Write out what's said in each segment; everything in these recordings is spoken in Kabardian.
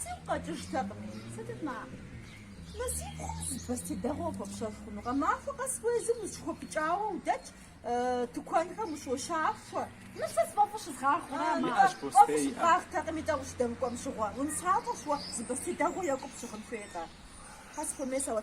Сигу къэкӏыжтэкъыми, Фатима. Мы си пхъум зы бостей дэгъуэ хуэпщэф хъуну? Гъэмахуэ къэс уэ езым ущыхуэпыкӏауэ удэтщ, тыкуэнхэм ущощафуэ. Мыр сэ сфӏэфӏу щызгъахъуэрэ? Мыӏэ, фӏэфӏу щывгъэхъутэкъыми, тӏэ ущыдэмыкӏуэм щыгъуэ. Унысащӏэщ уэ, зы бостей дэгъуэ екӏу пщыгъын хуейкъэ? Хьэсхуэмейсэ уэ.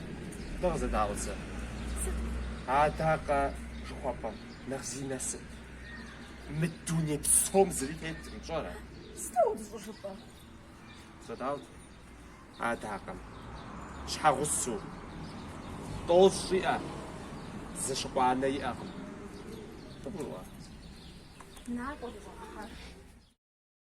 Дэ къызэдаӏуэ зэ. Сыт? Адакъэ жыхуэпӏэм нэхъ зи насып? Мы дуней псом зыри темыт, пщӏэрэ? Сыту ар щӏыжыпӏэр? Къызэдаӏуэ зэ. Адакъэм щхьэгъусэу тӏощӏ щӏиӏэ, зы щыкъу анэ иӏэкъым. Къыбгурыӏуа? Накӏуэ, дыгъэкӏуэж.